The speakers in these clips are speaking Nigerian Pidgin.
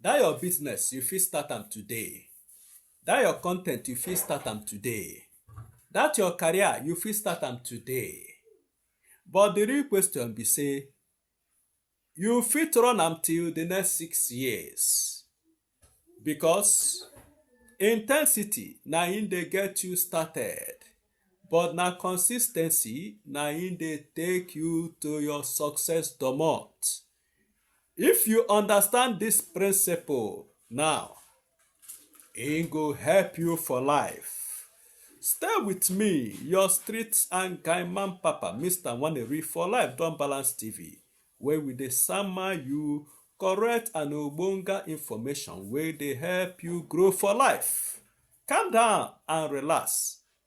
Dat your business you fit start am today, dat your content you fit start am today, dat your career you fit start am today but the real question be say you fit run am till the next six years because intensity na im dey get you started but na consistency na im dey take you to your success domot. If you understand this principle now, e go help you for life. Stay with me, your street and guy man papa, Mr. Waneri for Life Don Balance TV, where we dey sama you correct and ogbonga information wey dey help you grow for life. Calm down and relax.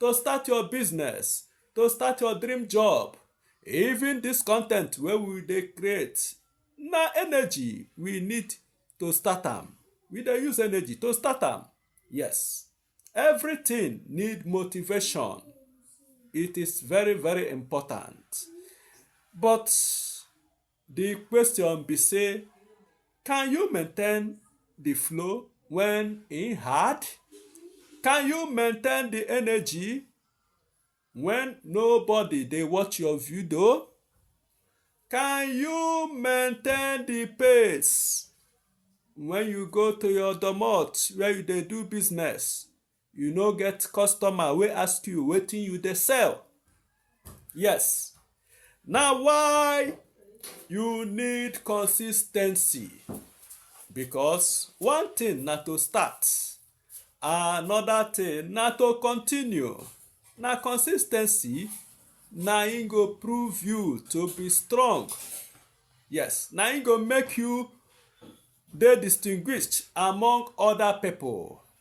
to start your business to start your dream job even this content wey we dey create na energy we need to start am we dey use energy to start am yes everything need motivation it is very very important but Di question be say, can you maintain di flow when e hard? Can you maintain di energy when nobody dey watch your video? Can you maintain the pace when you go to your domot where you dey do business? you no get customer wey ask you wetin you dey sell yes na why you need consistency because one thing na to start another thing na to continue na consistency na im go prove you to be strong yes na im go make you dey distinguished among other people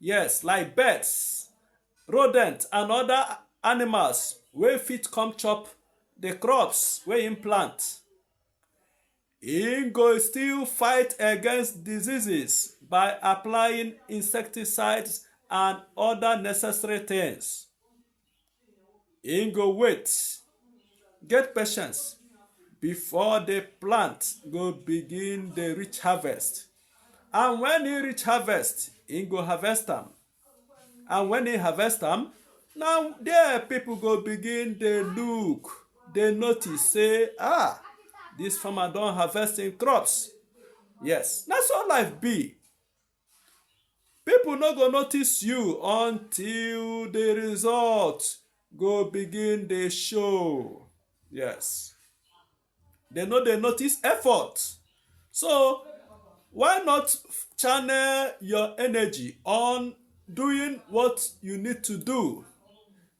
Yes, like birds, rodent and other animals wey fit come chop the crops wey im plant. Im go still fight against diseases by applying insecticides and other necessary things. im go wait get patience before the plant go begin dey reach harvest and when e reach harvest im go harvest am and when e harvest am na there people go begin dey look dey notice say ah this farmer don harvest im crops yes na so life be People no go notice you until the result go begin dey show. Yes. They no dey notice effort. So why not channel your energy on doing what you need to do?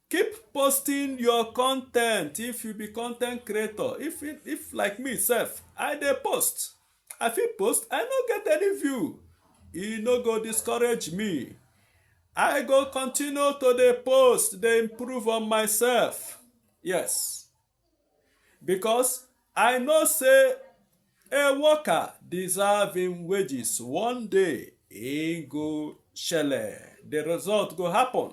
keep posting your content if you be content creator if if like me sef i dey post i fit post i no get any view e no go discourage me i go continue to dey post dey improve on myself yes because i know say a worker deserve im wages one day e go shele the result go happen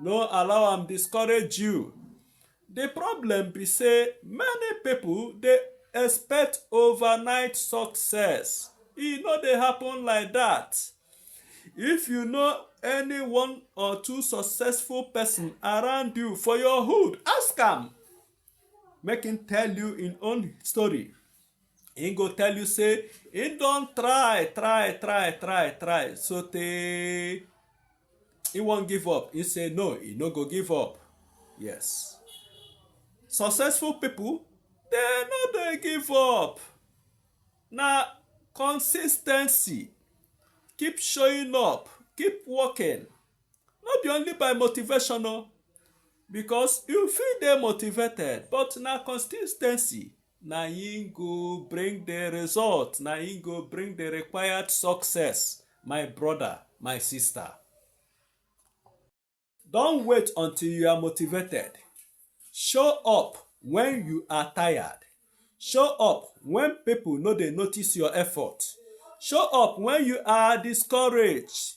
no allow am discourage you the problem be say many people dey expect overnight success e no dey happen like that if you know any one or two successful person around you for your hood ask am make him tell you him own story him go tell you say him don try try try try try so tey he wan give up he say no he no go give up yes successful people dey no dey give up na consistency keep showing up keep working no be only by motivation o because you fit dey motivated but na consis ten cy na im go bring the result na im go bring the required success my brother my sister don wait until you are motivated show up when you are tired show up when people no dey notice your effort show up when you are discouraged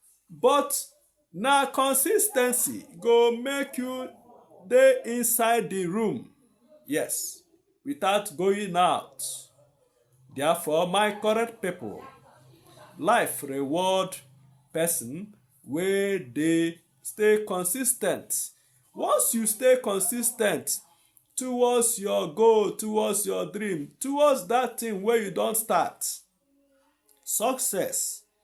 But na consistency go make you dey inside the room. Yes, without going out. Therefore, my correct people, life reward person wey dey stay consistent. Once you stay consistent towards your goal, towards your dream, towards that thing wey you don start, success